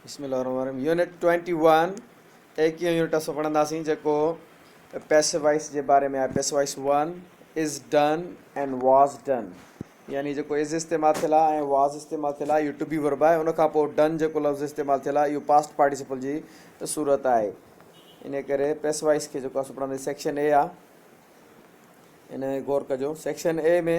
بسم الله الرحمن الرحيم يونٽ ٽوئنٽي ون ايڪيهون يونٽ اسان پڙهنداسين جيڪو پيسو وائس جي باري ۾ آهي passive voice one is done and was done يعني جيڪو از استعمال ٿيل آهي ۽ واز استعمال ٿيل آهي اهو ٽبي ورب آهي ان کان پوء ڊن جيڪو لفظ استعمال ٿيل آهي اهو پاسٽ پارٽيسپل جي صورت آهي ان ڪري پيسو وائس کي جيڪو اسان پڙهنداسين سيڪشن اي آهي ان غور ڪجو section A ۾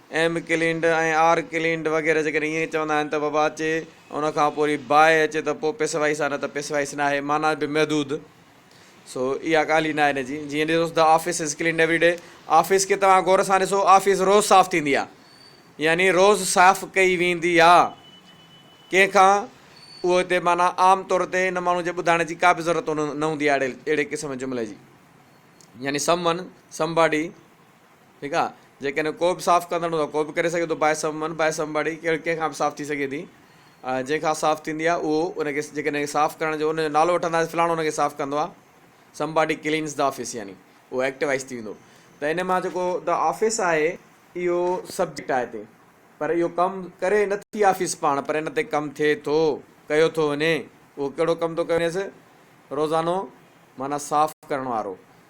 am cleaned ۽ are cleaned وغيره جيڪڏهن ائين چوندا آهن ته وبا اچي ان کان پوء وري باهه اچي ته پوء پيسوائيس آهي نه ته پيسوائيس ناهي معنيٰ به محدود سو اها ڳالهه ئي ناهي نه جي جيئن ڏسوس The office is cleaned every day office کي توهان غور سان ڏسو آفيس روز صاف ٿيندي آهي يعني روز صاف ڪئي ويندي آهي ڪنهن کان اهو هتي معنيٰ عام طور تي ان ماڻهو جي ٻڌائڻ جي ڪا به ضرورت نه هوندي آهي اهڙي قسم جملي جي يعني سم ون سم باڊي ٺيڪ آ جيڪڏهن ڪو به صاف ڪندڙ هوندو ڪو به ڪري سگهي ٿو باهه سم من باهه سم باڙي ڪهڙ ڪنهن کان به صاف ٿي سگهي ٿي جنهن کان صاف ٿيندي آ اهو ان کي جيڪڏهن صاف ڪرڻ جو ان جو نالو وٺنداسي فلاڻو ان کي صاف ڪندو آ somebody cleans the office يعني اهو ايڪٽوائز ٿي ويندو ته ان مان جيڪو دا آفيس آهي اهو سبجيڪٽ آهي تي پر اهو ڪم ڪري نه ٿي آفيس پاڻ پر ان تي ڪم ٿئي ٿو ڪيو ٿو وڃي اهو ڪهڙو ڪم ٿو ڪيو وڃيس روزانو معنيٰ صاف ڪرڻ وارو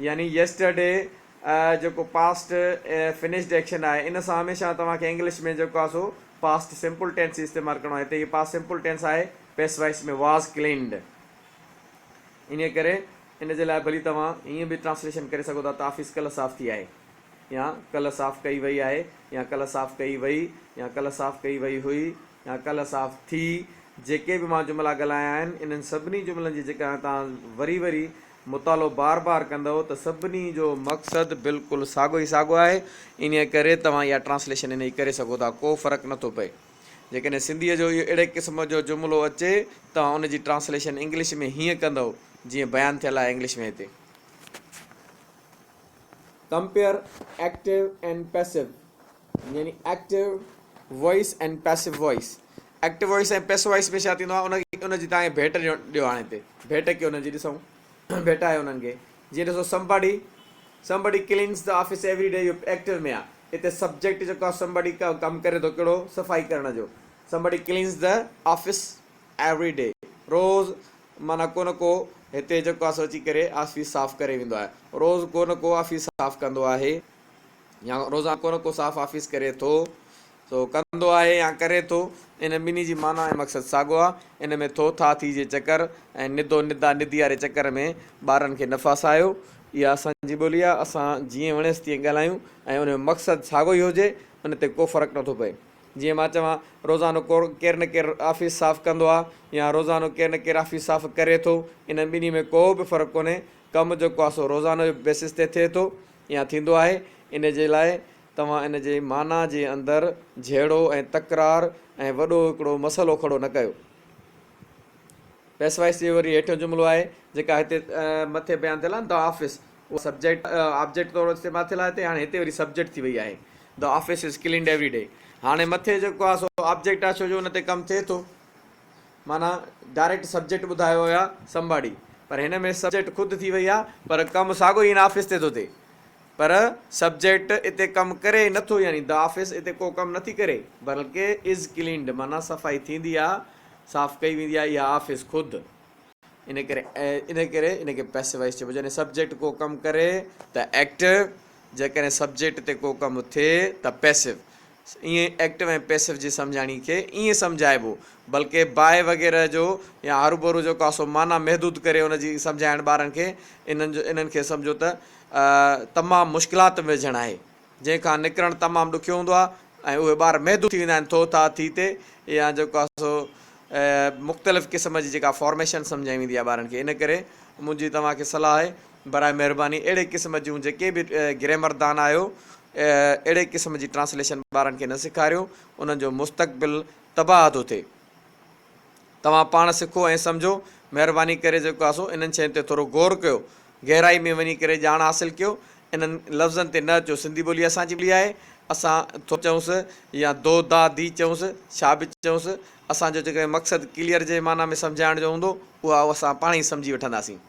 يعني Yesterday جيڪو Past Finished Action آهي ان سان هميشه توهان کي انگلش ۾ جيڪو آهي سو Past Simple Tense ئي استعمال ڪرڻو آهي هتي هي Past Simple Tense آهي Passive Voice ۾ Was Cleaned انهيء ڪري ان جي لاء ڀلي توهان ائين به Translation ڪري سگهو ٿا ته آفيس ڪلهه صاف ٿي آهي يا ڪلهه صاف ڪئي وئي آهي يا ڪلهه صاف ڪئي وئي يا ڪلهه صاف ڪئي وئي هئي يا ڪلهه صاف ٿي جيڪي به مان جملا ڳالهايا آهن انهن سڀني جملن جي جيڪا توهان وري وري مطالعو بار بار ڪندؤ ته سڀني جو مقصد بلڪل ساڳو ئي ساڳو آهي، انهيء ڪري توهان اها ٽرانسليشن انهيء جي ڪري سگهو ٿا، ڪو فرق نه ٿو پئي. جيڪڏهن سنڌيء جو اهو اهڙي قسم جو جملو اچي، توهان ان جي ٽرانسليشن انگلش ۾ هيئن ڪندؤ، جيئن بيان ٿيل آهي انگلش ۾ هتي. ڪمپيئر ايڪٽو اينڊ پيسو يعني active voice and passive voice active voice ۽ passive voice ۾ ڇا ٿيندو آهي ان کي ان جي تان کي ڀيٽ ڏيو ڏيو هاڻي هتي ڀيٽ ڪيو انهن جي ڏسون ڀيٽ آهي انهن کي جيئن ڏسو سمباڊي سمباڊي ڪلينز ته آفيس ايوري ڊي اهو ايڪٽو ۾ آهي هتي سبجيڪٽ جيڪو آهي سمباڊي ڪا ڪم ڪري ٿو ڪهڙو صفائي ڪرڻ جو سمباڊي ڪلينز ته آفيس ايوري ڊي روز معنيٰ ڪو نه ڪو هتي جيڪو آهي سو اچي ڪري آفيس صاف ڪري ويندو آهي روز ڪو نه ڪو آفيس صاف ڪندو آهي يا روزانه ڪو نه ڪو صاف آفيس ڪري ٿو سو ڪندو آهي يا ڪري ٿو، ان ٻنهي جي معنيٰ ۽ مقصد ساڳو آهي. ان ۾ ٿو ٿا ٿي جي چڪر ۽ ندو ندا ندي واري چڪر ۾ ٻارن کي نه ڦاسايو. اها اسان جي ٻولي آهي، اسان جيئن وڻيس تيئن ڳالهايون ۽ ان جو مقصد ساڳو ئي هجي، ان تي ڪو فرق نه ٿو پئي. جيئن مان چوان، روزانو ڪير نه ڪير آفيس صاف ڪندو آهي يا روزانو ڪير نه ڪير آفيس صاف ڪري ٿو، انهن ٻنهي ۾ ڪو به فرق ڪونهي. ڪم جيڪو آهي سو روزانو جي بيسس تي ٿئي ٿو يا ٿيندو آهي. ان جي لاء توهان ان جي معنيٰ جي اندر جهيڙو ۽ تڪرار ۽ وڏو هڪڙو مسئلو کڙو نه ڪيو. پيسوائيس جي وري هيٺيون جملو آهي جيڪا هتي مٿي بيان ٿيل آهي The Office اها سبجيڪٽ آبجيڪٽ طور استعمال ٿيل آهي هتي هاڻي هتي وري سبجيڪٽ ٿي وئي آهي The Office is cleaned every day هاڻي مٿي جيڪو آهي سو آبجيڪٽ آهي ڇو جو ان تي ڪم ٿئي ٿو معنيٰ ڊائريڪٽ سبجيڪٽ ٻڌايو هيا Somebody پر هن ۾ سبجيڪٽ خود ٿي وئي آهي پر ڪم ساڳو ئي هن آفيس تي ٿو ٿئي پر سبجيڪٽ اتي ڪم ڪري ئي نٿو يعني The Office اتي ڪو ڪم نٿي ڪري بلڪ Is Cleaned معنيٰ صفائي ٿيندي آهي، صاف ڪئي ويندي آهي اها آفيس خود. ان ڪري ان ڪري ان کي Passive Voice چئبو جڏهن سبجيڪٽ ڪو ڪم ڪري ته Active جيڪڏهن سبجيڪٽ تي ڪو ڪم ٿئي ته Passive ايئن ايڪٽو ۽ پيسو جي سمجهاڻي کي ايئن سمجهائبو بلڪه باء وغيره جو يا هروڀرو جو ڪاسو معنيٰ محدود ڪري ان جي سمجهائڻ ٻارن کي انهن جو انهن کي سمجهو ته تمام مشڪلات ۾ وجهڻ آهي جنهن کان نڪرڻ تمام ڏکيو هوندو آهي ۽ اهي ٻار محدود ٿي ويندا آهن ٿو ٿا ٿي تي يا جو ڪاسو مختلف قسم جي جيڪا فارميشن سمجهائي ويندي آهي ٻارن کي ان ڪري منهنجي توهان کي صلاح آهي براء مهرباني اهڙي قسم جون جيڪي به گريمر دان آهيو اهڙي قسم جي ٽرانسليشن ٻارن کي نه سيکاريو انهن جو مستقبل تباهه ٿو ٿئي توهان پاڻ سکو ۽ سمجهو مهرباني ڪري جيڪو آسو انهن شين تي ٿورو غور ڪيو گهرائي ۾ وڃي ڪري ڄاڻ حاصل ڪيو انهن لفظن تي نه اچو سنڌي ٻولي اسان جي ٻولي آهي اسان ٿو چئونس يا دو دا دي چئونس ڇا به چئونس اسان جو جيڪڏهن مقصد ڪليئر جي معنيٰ ۾ سمجهائڻ جو هوندو اها اسان پاڻ ئي سمجهي وٺنداسين.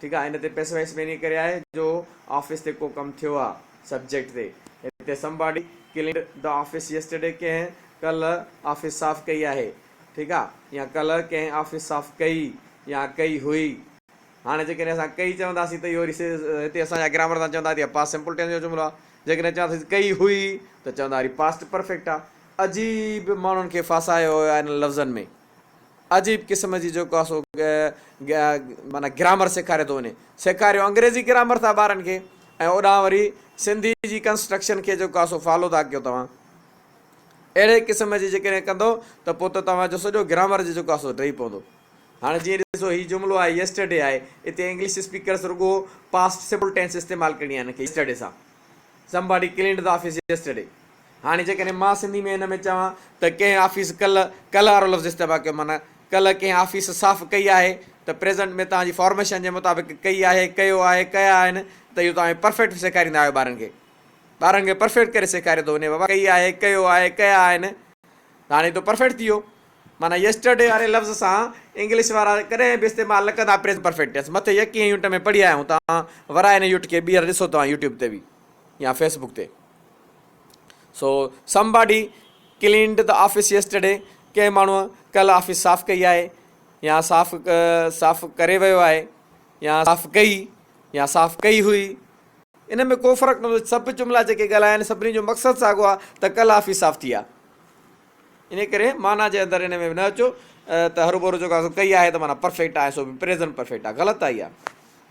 ٺيڪ آ ان تي پئسي وئسي ميني ڪري آهي جو آفيس تي ڪو ڪم ٿيو آ سبجيڪٽ تي هتي somebody cleaned the office yesterday ڪنهن ڪلهه آفيس صاف ڪئي آهي ٺيڪ آ يا ڪلهه ڪنهن آفيس صاف ڪئي يا ڪئي هئي هاڻي جيڪڏهن اسان ڪئي چونداسين ته اهو هتي اسان جا گرامر سان چوندا هتي پاس سمپل ٽينس جو جملو آ جيڪڏهن چونداسين ڪئي هئي ته چوندا وري پاسٽ پرفيڪٽ آ عجيب ماڻهن کي ڦاسايو ويو آ انهن لفظن ۾. عجيب قسم جي جيڪو آهي سو معنيٰ گرامر سيکاري ٿو وڃي سيکاريو انگريزي گرامر ٿا ٻارن کي ۽ اوڏانهن وري سنڌي جي ڪنسٽرڪشن کي جيڪو آهي سو فالو ٿا ڪيو توهان اهڙي قسم جي جيڪڏهن ڪندو ته پوء ته توهان جو سڄو گرامر جي جيڪو آهي سو ڊهي پوندو هاڻي جيئن ڏسو هي جملو آهي يسٽرڊي آهي اتي انگلش اسپيڪرس رڳو پاسٽ سمپل ٽينس استعمال ڪرڻي آهي هن کي يسٽرڊي سان somebody cleaned the office yesterday هاڻي جيڪڏهن مان سنڌي ۾ هن ۾ چوان ته ڪنهن آفيس ڪلهه، ڪلهه وارو لفظ استعمال ڪيو معنيٰ ڪلهه ڪنهن آفيس صاف ڪئي آهي ته پريزنٽ ۾ توهان جي فارميشن جي مطابق ڪئي آهي، ڪيو آهي، ڪيا آهن ته اهو توهان پرفيڪٽ سيکاريندا آهيو ٻارن کي. ٻارن کي پرفيڪٽ ڪري سيکاريو ٿو وڃي ڪئي آهي، ڪيو آهي، ڪيا آهن ته هاڻي تو پرفيڪٽ ٿي ويو. معنيٰ يسٽرڊي واري لفظ سان انگلش وارا ڪڏهن به استعمال نه ڪندا پريزنٽ پرفيڪٽ ٽينس. مٿي يڪينهن يونٽ ۾ پڙهي آيا آهيون توهان ورايه ان يوٽ کي ٻيهر ڏسو توهان يوٽيوب تي به يا فيسبوڪ تي. So somebody cleaned the office yesterday ڪنهن ماڻهوء ڪلهه آفيس صاف ڪئي آهي يا صاف صاف ڪري ويو آهي يا صاف ڪئي يا صاف ڪئي هئي ان ۾ ڪو فرق نٿو سڀ جملا جيڪي ڳالهاين سڀني جو مقصد ساڳو آهي ته ڪلهه آفيس صاف ٿي آهي ان ڪري معنيٰ جي اندر ان ۾ نه اچو ته هرو ڀرو جيڪو ڪئي آهي ته معنيٰ پرفيڪٽ آهي سو پريزنٽ پرفيڪٽ آهي غلط آهي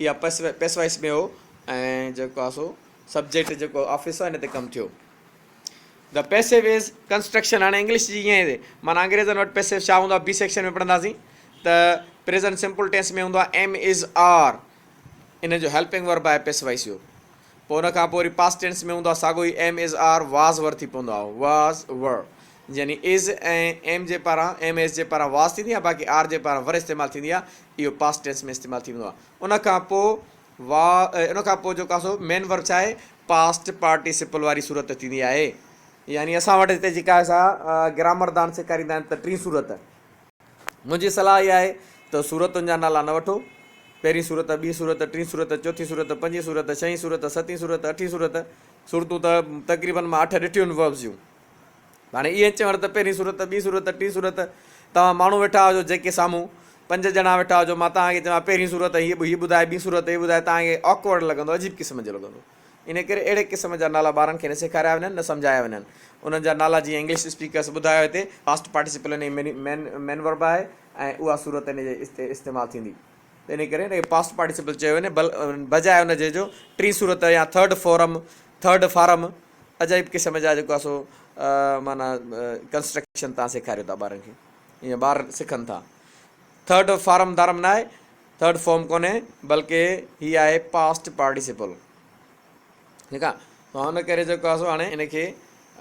اها پيسوائس ۾ هو ۽ جيڪو آهي سو سبجيڪٽ جيڪو آفيس آهي ان تي ڪم ٿيو ذا پيسو از ڪنسٽرڪشن هاڻي انگلش جي ائين مانا انگريزن وٽ پيسو ڇا هوندو بي سيڪشن ۾ پڙهنداسين ته پريزنٽ سمپل ٽينس ۾ هوندو آهي ايم از آر ان جو هيلپنگ ورب آهي پيسوائس جو پوء ان کان پوء وري پاسٽ ٽينس ۾ هوندو آهي ساڳو ئي am is are was were ٿي پوندو آهي واز ور يعني از ۽ ايم جي پاران ايم ايس جي پاران واز ٿيندي آهي باقي آر جي پاران ور استعمال ٿيندي آهي اهو پاسٽ ٽينس ۾ استعمال ٿي ويندو آهي ان کان پوء وا ان کان پوء جيڪو سو مين ورب ڇا آهي پاسٽ پارٽيسپل واري صورت ٿيندي آهي يعني اسان وٽ هتي جيڪا سا گرامر دان سيکاريندا آهن ته ٽين صورت منهنجي صلاح اها آهي ته سورتن جا نالا نه وٺو، پهرين سورت، ٻي سورت، ٽين سورت، چوٿين سورت، پنجين سورت، ڇهين سورت، ستين سورت، اٺين سورت، سورتون ته تقريبن مان اٺ ڏٺيون آهن وهب جون. هاڻي ائين چوڻ ته پهرين سورت، ٻي سورت، ٽين سورت، توهان ماڻهو ويٺا هجو جيڪي سامهون پنج ڄڻا ويٺا هجو مان توهان کي چوان پهرين سورت ۽ هي ٻڌائي ٻي سورت هي ٻڌائي توهان کي Awkward لڳندو عجيب قسم جو لڳندو. انهيء ڪري اهڙي قسم جا نالا ٻارن کي نه سيکاريا وڃن، نه سمجهايا وڃن. انهن جا نالا جيئن انگلش اسپيڪرز ٻڌايو هتي، پاسٽ پارٽيسپل ان جي مين مين ورب آهي ۽ اها صورت ان جي است استعمال ٿيندي. ته انهيء ڪري ان کي پاسٽ پارٽيسپل چيو وڃي بل بجاء ان جي جو ٽين صورت يا ٿرڊ فورم، ٿرڊ فارم، عجائب قسم جا جيڪو آهي سو معنيٰ ڪنسٽرڪشن تان سيکاريو ٿا ٻارن کي. ائين ٻار سکن ٿا. ٿرڊ فارم دارم نه آهي. ٿرڊ فارم ڪونهي بلڪه هي آهي پاسٽ پارٽيسپل ٺيڪ آ تو ان ڪري جيڪو آسو هاڻي ان کي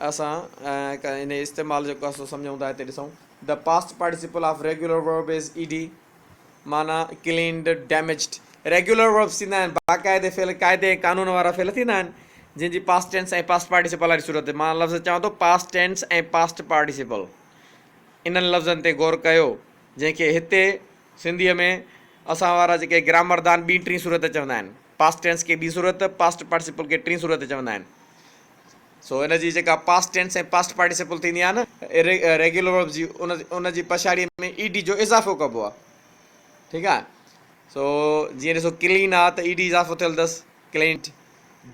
اسان ان استعمال جيڪو آسو سمجھون ٿا هتي ڏسون the past participle of regular verb is E D معنی کلينڊ ڊيميجڊ ريگولر ورب ٿيندا آهن باقاعده فعل قاعده قانون وارا فعل ٿيندا آهن جن جي پاسٽ ٽينس ۽ پاسٽ پارٽيسپل واري صورت مان لفظ چاهون ٿو پاسٽ ٽينس ۽ پاسٽ پارٽيسپل انهن لفظن تي غور ڪيو جنهن کي هتي سنڌيء ۾ اسان وارا جيڪي گرامردان ٻي ٽين صورت چوندا آهن، پاسٽ ٽينس کي ٻي صورت، پاسٽ پارٽيسپل کي ٽين صورت چوندا آهن. سو ان جي جيڪا پاسٽ ٽينس ۽ پاسٽ پارٽيسپل ٿيندي آهي نه ريگيولر ورب جي ان جي پڇاڙيء ۾ اي ڊي جو اضافو ڪبو آهي. ٺيڪ آهي. سو جيئن ڏسو ڪلين آهي ته اي ڊي اضافو ٿيل اٿس ڪلينٽ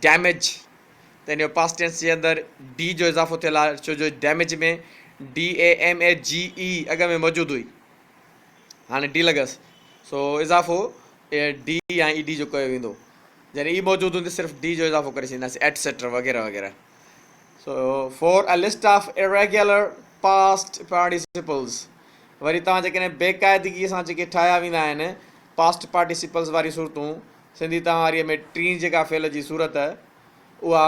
ڊيميج ته ان جو پاسٽ ٽينس جي اندر ڊي جو اضافو ٿيل آهي ڇو جو damage ۾ D A M A G E اڳ ۾ موجود هئي هاڻي ڊيلگس سو اضافو ڊي يا اي ڊي جو ڪيو ويندو جڏهن اي موجود هوندي صرف ڊي جو اضافو ڪري ڇڏينداسي ايٽسيٽرا وغيره وغيره so for a list of irregular past participles وري توهان جيڪڏهن بيقاعدگي سان جيڪي ٺاهيا ويندا آهن پاسٽ پارٽيسپلز واري صورتون سنڌي توهان واري ۾ ٽين جيڪا فعل جي صورت اها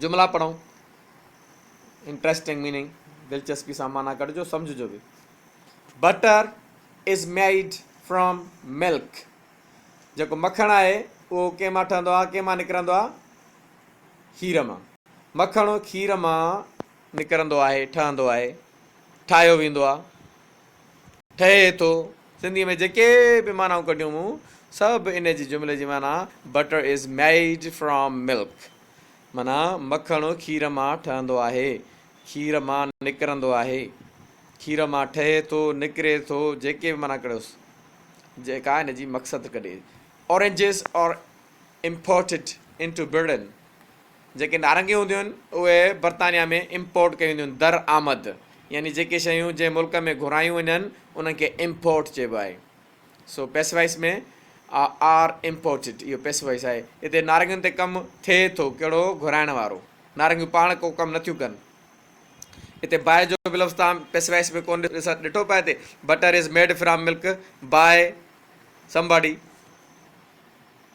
جملا پڙهون، Interesting Meaning، دلچسپي سان معنيٰ ڪڍجو، سمجهجو به. Butter is made from milk. جيڪو مکڻ آهي اهو ڪنهن مان ٺهندو آهي؟ ڪنهن مان نڪرندو آهي؟ کير مان. مکڻ کير مان نڪرندو آهي، ٺهندو آهي، ٺاهيو ويندو آهي. ٺهي ٿو. سنڌيء ۾ جيڪي به معنائون ڪڍيون مون، سڀ ان جي جملي جي معنيٰ Butter is made from milk معنيٰ مکڻ کير مان ٺهندو آهي، کير مان نڪرندو آهي، کير مان ٺهي ٿو، نڪري ٿو، جيڪي به معنيٰ ڪڍيوس، جيڪا ان جي مقصد ڪڍي. Oranges are imported into Britain. جيڪي نارنگيون هونديون آهن اهي برطانيا ۾ امپورٽ ڪيون وينديون آهن، در آمد، يعني جيڪي شيون جنهن ملڪ ۾ گهرايون وڃن انهن کي امپورٽ چئبو آهي. سو پئسو وائس ۾ آ آر امپورٽيڊ اهو پئسو وائس آهي. هتي نارنگين تي ڪم ٿئي ٿو ڪهڙو گهرائڻ وارو. نارنگيون پاڻ ڪو ڪم نٿيون ڪن. هتي باء جو به لفظ توهان پئسو وائس ۾ ڪونه ڏٺو پئي هتي butter is made from milk by somebody.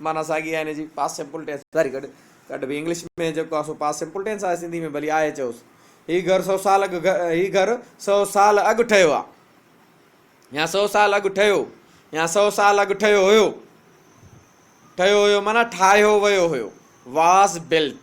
معنيٰ ساڳي آهي هن جي، Past Simple Tense. ساري گڏ گڏ به انگلش ۾ جيڪو آهي سو Past Simple Tense آهي، سنڌي ۾ ڀلي آهي چئوس. هي گهر سؤ سال اڳ هي گهر سؤ سال اڳ ٺهيو آهي يا سؤ سال اڳ ٺهيو يا سؤ سال اڳ ٺهيو هيو. ٺهيو هيو معنيٰ ٺاهيو ويو هيو، Was Built.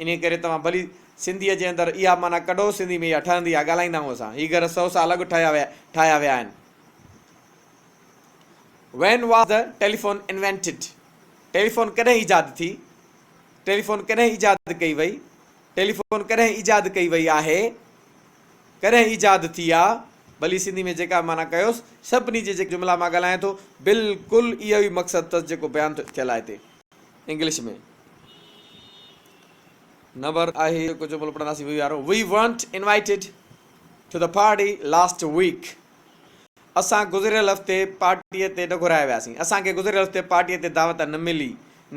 انهيء ڪري توهان ڀلي سنڌيء جي اندر اها معنيٰ ڪڍو، سنڌيء ۾ اها ٺهندي آهي، ڳالهائيندا آهيون اسان. هي گهر سؤ سال اڳ ٺاهيا ويا ٺاهيا ويا آهن. When was the telephone invented؟ Telephone ڪڏهن ايجاد ٿي؟ ٽيليفون ڪڏهن ايجاد ڪئي وئي؟ ٽيليفون ڪڏهن ايجاد ڪئي وئي آهي؟ ڪڏهن ايجاد ٿي آ؟ ڀلي سنڌيء ۾ جيڪا به معنيٰ ڪيوس، سڀني جي جيڪي جملا مان ڳالهايان ٿو، بلڪل اهو ئي مقصد اٿس جيڪو بيان ٿيل آهي هتي. انگلش ۾ نمبر آهي هڪ جملو پڙهنداسين وي وارو we weren't invited to the party last week اسان گذريل هفتي پارٽي تي نه گهرايا وياسين اسان کي گذريل هفتي پارٽي تي دعوت نه ملي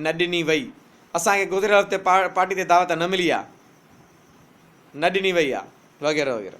نه ڏني وئي اسان کي گذريل هفتي پارٽي تي دعوت نه ملي آ نه ڏني وئي آ وغيره وغيره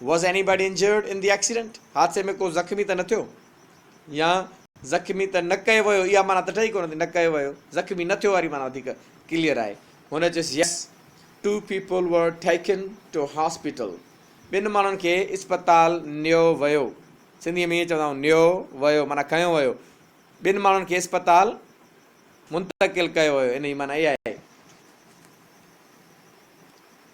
Was anybody injured in the accident؟ حادثي ۾ ڪو زخمي ته نه ٿيو يا زخمي ته نه ڪيو ويو اها معنيٰ ته ٺهي ڪونه ٿي نه ڪيو ويو زخمي نه ٿيو واري معنيٰ وڌيڪ ڪليئر آهي هن چيس Yes Two people were taken to hospital ٻن ماڻهن کي اسپتال نيو ويو سنڌي ۾ ائين چوندا آهيون نيو ويو معنيٰ کنيو ويو ٻن ماڻهن کي اسپتال منتقل ڪيو ويو ان جي معنيٰ اها آهي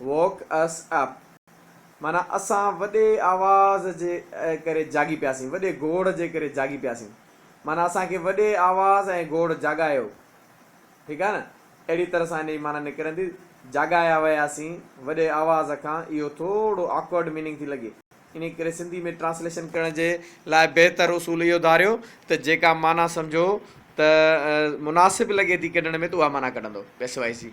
Woke us up معنيٰ اسان وڏي آواز جي ڪري جاڳي پياسين، وڏي گوڙ جي ڪري جاڳي پياسين. معنيٰ اسان کي وڏي آواز ۽ گوڙ جاڳايو. ٺيڪ آهي نه؟ اهڙي طرح سان ان جي معنيٰ نڪرندي، جاڳايا وياسين وڏي آواز کان. اهو ٿورو Awkward Meaning ٿي لڳي. انهيء ڪري سنڌي ۾ Translation ڪرڻ جي لاء بهتر اصول اهو ڌاريو ته جيڪا معنيٰ سمجهو ته مناسب لڳي ٿي ڪڍڻ ۾ ته اها معنيٰ ڪڍندو. SYC.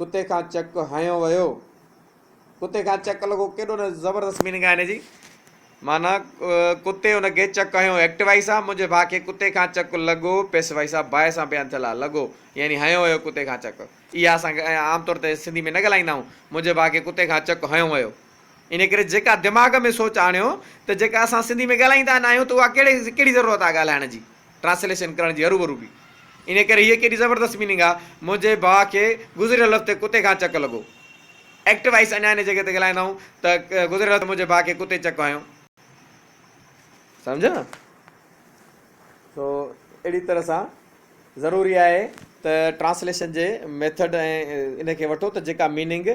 ڪتي کان چڪ هنيو ويو. ڪتي کان چڪ لڳو ڪيڏو نه زبردست ميننگ آهي هن جي معنيٰ ڪتي ان کي چڪ هنيو ايڪٽوائي سان منهنجي ڀاء کي ڪتي کان چڪ لڳو پيسوائي سان باء سان بيان ٿيل آهي لڳو يعني هنيو ويو ڪتي کان چڪ اها اسان عام طور تي سنڌي ۾ نه ڳالهائيندا آهيون منهنجي ڀاء کي ڪتي کان چڪ هنيو ويو ان ڪري جيڪا دماغ ۾ سوچ آڻيو ته جيڪا اسان سنڌي ۾ ڳالهائيندا ناهيون ته اها ڪهڙي ڪهڙي ضرورت آهي ڳالهائڻ جي ٽرانسليشن ڪرڻ جي هروڀرو به ان ڪري هيء ڪيڏي زبردست ميننگ آهي منهنجي ڀاء کي گذريل هفتي ڪتي کان چڪ لڳو ايڪٽ وائيس اڃا ان جڳهه تي ڳالهائيندا آهيون ته گذريل هفتي منهنجي ڀاء کي ڪتي چڪ هنيو سمجهيو نه سو اهڙي طرح سان ضروري آهي ته ٽرانسليشن جي ميٿڊ ۽ ان کي وٺو ته جيڪا ميننگ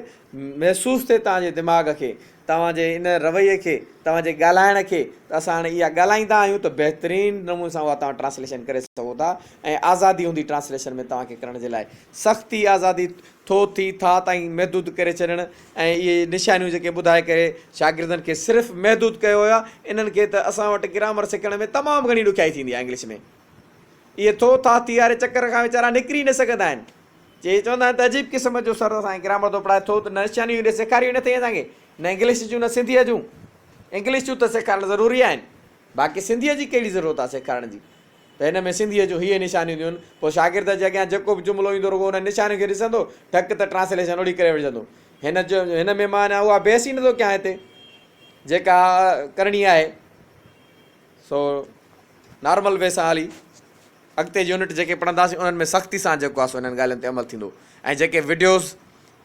محسوس ٿئي توهان جي دماغ کي توهان جي ان رويي کي توهان جي ڳالهائڻ کي ته اسان هاڻي اها ڳالهائيندا آهيون ته بهترين نموني سان اها توهان ٽرانسليشن ڪري سگهو ٿا ۽ آزادي هوندي ٽرانسليشن ۾ توهان کي ڪرڻ جي لاء سختي آزادي ٿو ٿي ٿا تائين محدود ڪري ڇڏڻ ۽ اهي نشانيون جيڪي ٻڌائي ڪري شاگردن کي صرف محدود ڪيو ويو آهي انهن کي ته اسان وٽ گرامر سکڻ ۾ تمام گهڻي ڏکيائي ٿيندي آهي انگلش ۾ اهي ٿو ٿا ٿي واري چڪر کان ويچارا نڪري نه سگهندا آهن چي چوندا آهن ته عجيب قسم جو سر اسان کي گرامر ٿو پڙهائي ٿو ته نه نشانيون ايڏي سيکاريون نه اٿئي اسان کي نه انگلش جون نه سنڌيء جون انگلش جون ته سيکارڻ ضروري آهن باقي سنڌيء جي ڪهڙي ضرورت آهي سيکارڻ جي ته هن ۾ سنڌيء جون هيء نشانيون هونديون، پوء شاگرد جي اڳيان جيڪو به جملو ايندو رڳو انهن نشانين کي ڏسندو، ٽڪ ته ٽرانسليشن اڙي ڪري وٺجندو. هن جو هن ۾ مان اڃا اها بحث ئي نٿو ڪيان هتي جيڪا ڪرڻي آهي سو نارمل وي سان هلي اڳتي يونٽ جيڪي پڙهنداسين انهن ۾ سختي سان جيڪو آهي سو انهن ڳالهين تي عمل ٿيندو ۽ جيڪي وڊيوز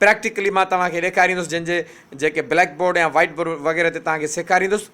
پريڪٽيڪلي مان توهان کي ڏيکاريندس جن جي جيڪي بليڪ بورڊ يا وائيٽ بورڊ وغيره تي توهان کي سيکاريندس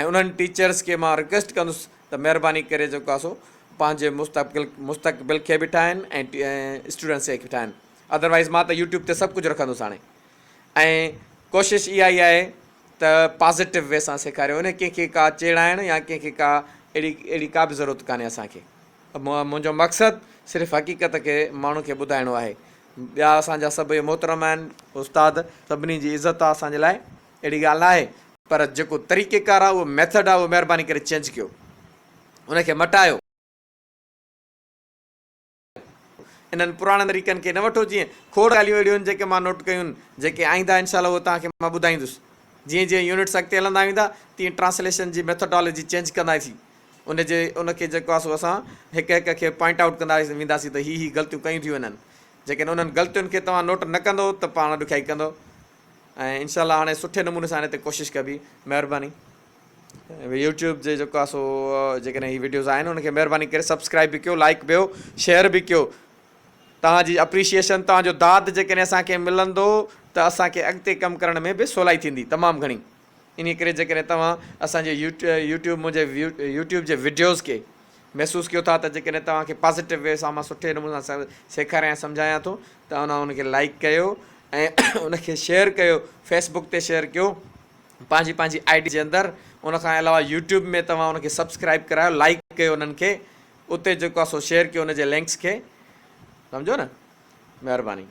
۽ انهن ٽيچرس کي مان رڪويسٽ ڪندس ته مهرباني ڪري جيڪو آهي سو پنهنجي مستقبل مستقبل کي به ٺاهن ۽ اسٽوڊنٽس کي به ٺاهن اڌروائز مان ته يوٽيوب تي سڀ ڪجهه رکندس هاڻي ۽ ڪوشش اها ئي آهي ته پازيٽو وي سان سيکاريو ان ڪنهن کي ڪا چيڙائڻ يا ڪنهن کي ڪا اهڙي اهڙي ڪا به ضرورت ڪانهي اسانکي منهنجو مقصد صرف حقيقت کي ماڻهن کي ٻڌائڻو آهي ٻيا اسانجا سڀ محترم آهن استاد سڀني جي عزت آهي اسانجي لاء اهڙي ڳالهه نه آهي پر جيڪو طريقي ڪار آهي اهو ميٿڊ آهي اهو مهرباني ڪري چينج ڪيو ان کي مٽايو انهن پراڻن طريقن کي نه وٺو جيئن کوڙ ڳالهيون اهڙيون آهن جيڪي مان نوٽ ڪيون جيڪي آئنده انشاء الله اهو توهان کي مان ٻڌائيندس جيئن جيئن يونٽس اڳتي هلندا ويندا تيئن ٽرانسليشن جي ميٿوڊالوجي چينج ڪنداسين ان جي ان کي جيڪو آسو اسان هڪ هڪ کي پوائنٽ آئوٽ ڪندا وينداسين ته هي هي غلطيون ڪيون ٿيون انهن جيڪڏهن انهن غلطين کي توهان نوٽ نه ڪندو ته پاڻ ڏکيائي ڪندو ۽ انشاء الله هاڻي سٺي نموني سان هن تي ڪوشش ڪبي مهرباني يوٽيوب جي جيڪو آسو جيڪڏهن هي ويڊيوز آهن ان کي مهرباني ڪري سبسڪرائب به ڪيو لائڪ بيو شيئر به ڪيو توهان جي اپريشيشن توهان جو داد جيڪڏهن اسان کي ملندو ته اسان کي اڳتي ڪم ڪرڻ ۾ به سولائي ٿيندي تمام گهڻي انهيء ڪري جيڪڏهن توهان اسان جي يو ٽيوب منهنجي يو ٽيوب جي وڊيوز کي محسوس ڪيو ٿا ته جيڪڏهن توهان کي پازيٽو وي سان مان سٺي نموني سان سيکاريان ۽ سمجهايان ٿو ته اوهان ان کي لائڪ ڪيو ۽ ان کي شيئر ڪيو فيس بڪ تي شيئر ڪيو پنهنجي پنهنجي آئي ڊي جي اندر ان کان علاوه يو ٽيوب ۾ توهان ان کي سبسڪرائب ڪرايو لائڪ ڪيو انهن کي اتي جيڪو آسو شيئر ڪيو ان جي لنڪس کي سمجهو نه مهرباني